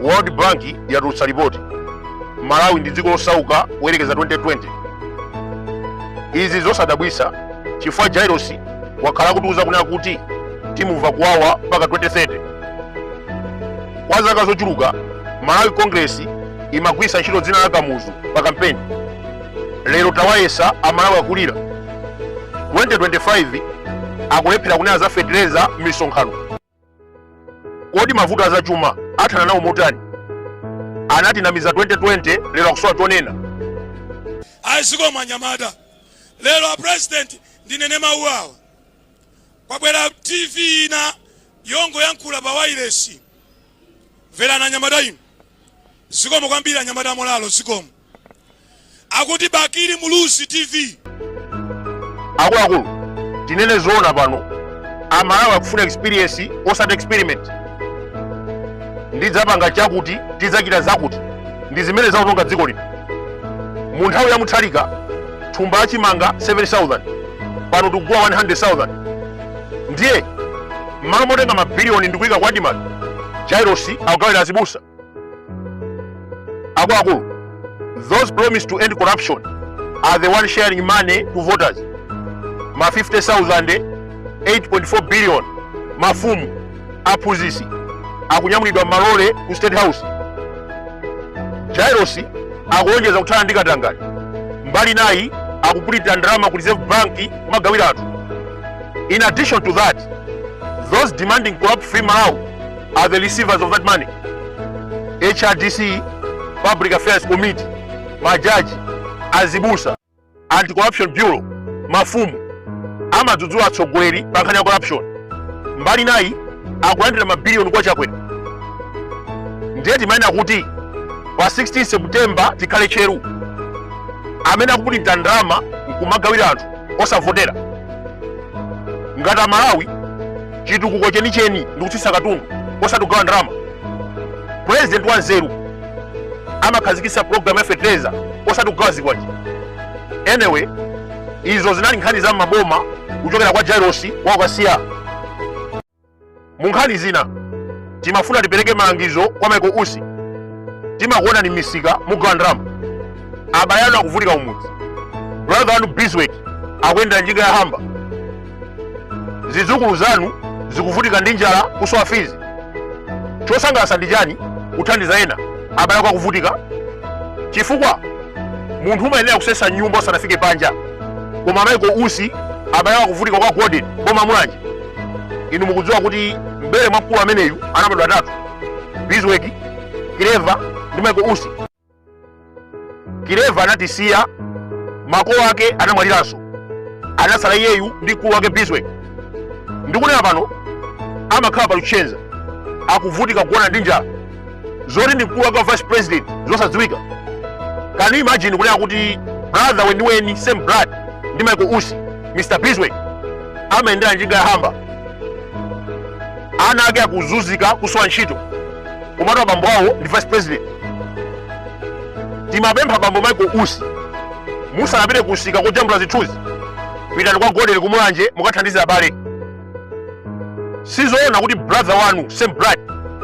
world bank yatulutsa lipoti malawi ndi dziko losauka kuyerekeza 2020 izi zosadabwisa chifukwa jairos wakhala akutiuza kunena kuti timumva kuwawa mpaka 2030 kwa zaka zochuluka malawi congress imagwisa ntchito dzina la kamuzu pa kampeni lero tawayesa amalawi akulira 2025 akulephera kunena za fetereza mmisonkhano kodi mavuto azachuma athana nawo motani anatinamiza 2020 lero akusowa chonena zikomo anyamata lero a president ndinene mawu awa kwabwera tv ina yongoyankhula pa wailesi mverani anyamata inu zikomo kwambiri anyamata amolalo zikomo akuti bakili muluzi tv akuluakulu tinene zoona pano amalawi akufuna experience osati experiment ndidzapanga chakuti tidzachita zakuti ndi zimene zaononga dziko lino mu nthawi ya mutharika thumba la chimanga 7000 pano tikugula 100000 ndiye mmalo motenga mabiliyoni ndikuyika kwa admarc jairosi akugawira azibusa akuluakulu those promised to end corruption are the one sharing money to voters ma 50000 8.4 billion mafumu aphunzitsi akunyamulidwa mmalole ku state house jairosi akulonjeza kuthana ndi katangale mbali inayi akupulinta ndalama ku reserve bank kumagawira anthu in addition to that those demanding corrupt free malawi are the receivers of that money. HRDC, Public Affairs Committee, majaji, azibusa, Anti-Corruption Bureau, mafumu, amadzudzula atsogoleri pa nkhani ya corruption. Mbali inayi akulandira mabiliyoni kwa Chakwera. Ndiye timanena kuti pa 16 September tikhale tcheru. Amene akupulinta ndalama nkumagawira anthu osavotera. Ngati Amalawi chitukuko chenicheni ndi kutsitsa katundu osati kugawa ndalama purezidenti wa nzeru amakhazikitsa programu ya fetereza osati kugawa zikwanje anyway izo zinali nkhani za mmaboma kuchokera kwa jairosi wa ku kasiya mu nkhani zina timafuna tipereke malangizo kwa michael usi timakuonani mmisika mugawa ndalama abale anu akuvutika kumudzi brother wanu biswick akuyendera njinga ya hamba zidzukulu zanu zikuvutika ndi njala kusowa fizi chosangalatsa ndi chani kuthandiza ena abale ako akuvutika chifukwa munthu umayenera kusesa mnyumba usanafike panja koma michael usi abale ako akuvutika kwa gordon boma la mulanje inu mukudziwa kuti mbere mwa mkulu ameneyu anabadwa atatu bisweki kileva ndi michael usi kileva anatisiya makolo ake anamwaliranso anatsala iyeyu ndi mkulu wake biswek ndikunena pano amakhala pa luchenza akuvutika kugona ndi njala zoti ndi mkulu wake wa vice president zosadziwika can you imagine kunena kuti brother weniweni same blood ndi michael usi mr biswek amayendera njinga ya hamba ana ake akuzunzika kusowa ntchito komatu abambo awo ndi vice president timapempha bambo michael usi musanapite kumsika kojambula zithunzi pitani kwa gordon kumulanje mukathandize abale sizoona kuti brother wanu same blood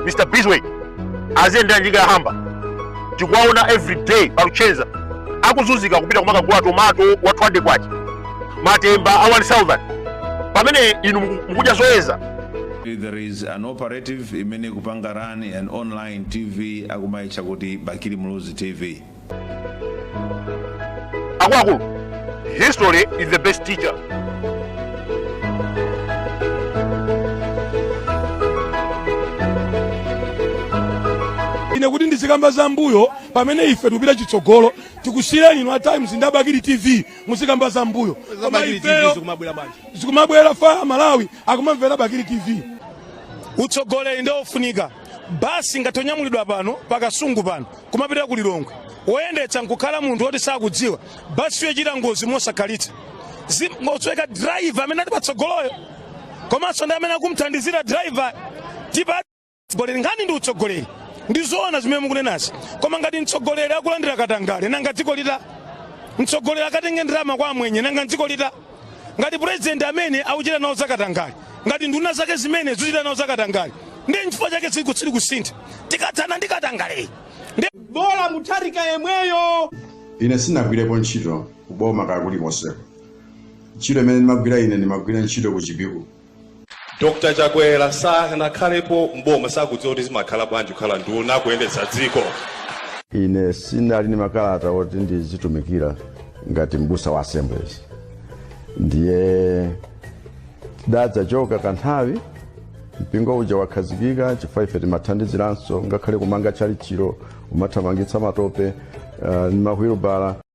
mr biswek aziyendera njinga ya hamba tikuwaona every day paluchenza akuzunzika kupita kumakagula tomato wa 200 kwacha matemba a 1000 pamene inu muku- mukudya zoyeza there is an operative imene ikupanga run an online tv akumayitcha kuti bakili muluzi tv akuluakulu history is the best teacher ine kuti ndizikamba za mbuyo pamene ife tikupita chitsogolo tikusiyireni inu a times ndi abakili tv muzikamba za mbuyo koma ifeyo zikumabwera if amalawi akumamvera bakili tv utsogoleri ndi ofunika basi ngati onyamulidwa pano pakasungu pano kumapita ku lilongwe woyendetsa nkukhala munthu woti sakudziwa basiyo ichita ngozi mosakhalitsa nkusweka driver amene ali patsogoloyo komanso ndi amene akumthandizira driver tipa utsogoleri nkhani ndi utsogoleri ndi zoona zimene mukunenazi koma ngati mtsogoleri akulandira katangale nanga dziko lita mtsogoleri akatenge ndalama kwa amwenye nanga dziko lita ngati purezidenti amene akuchita nawo zakatangale ngati nduna zake zimene zikuchita nawo zakatangale ndi nchifukwa chake zili kusintha tikathana ndi katangale ndi bola mutharika yemweyo ine sinagwirepo ntchito kuboma kaya kulikonseko ntchito imene ndimagwira ine ndimagwira ntchito ku chipiku Dr Chakwera sanakhalepo mboma sakudziwa kuti zimakhala bwanji kukhala nduna kuyendetsa dziko. Ine sinali ndi makalata oti ndizitumikira ngati mbusa wa Assemblies, ndiye tidadzachoka kanthawi mpingo uja wakhazikika chifukwa ife timathandiziranso ngakhale kumanga tchalitchilo umathamangitsa matope uh, ndi mahwilubala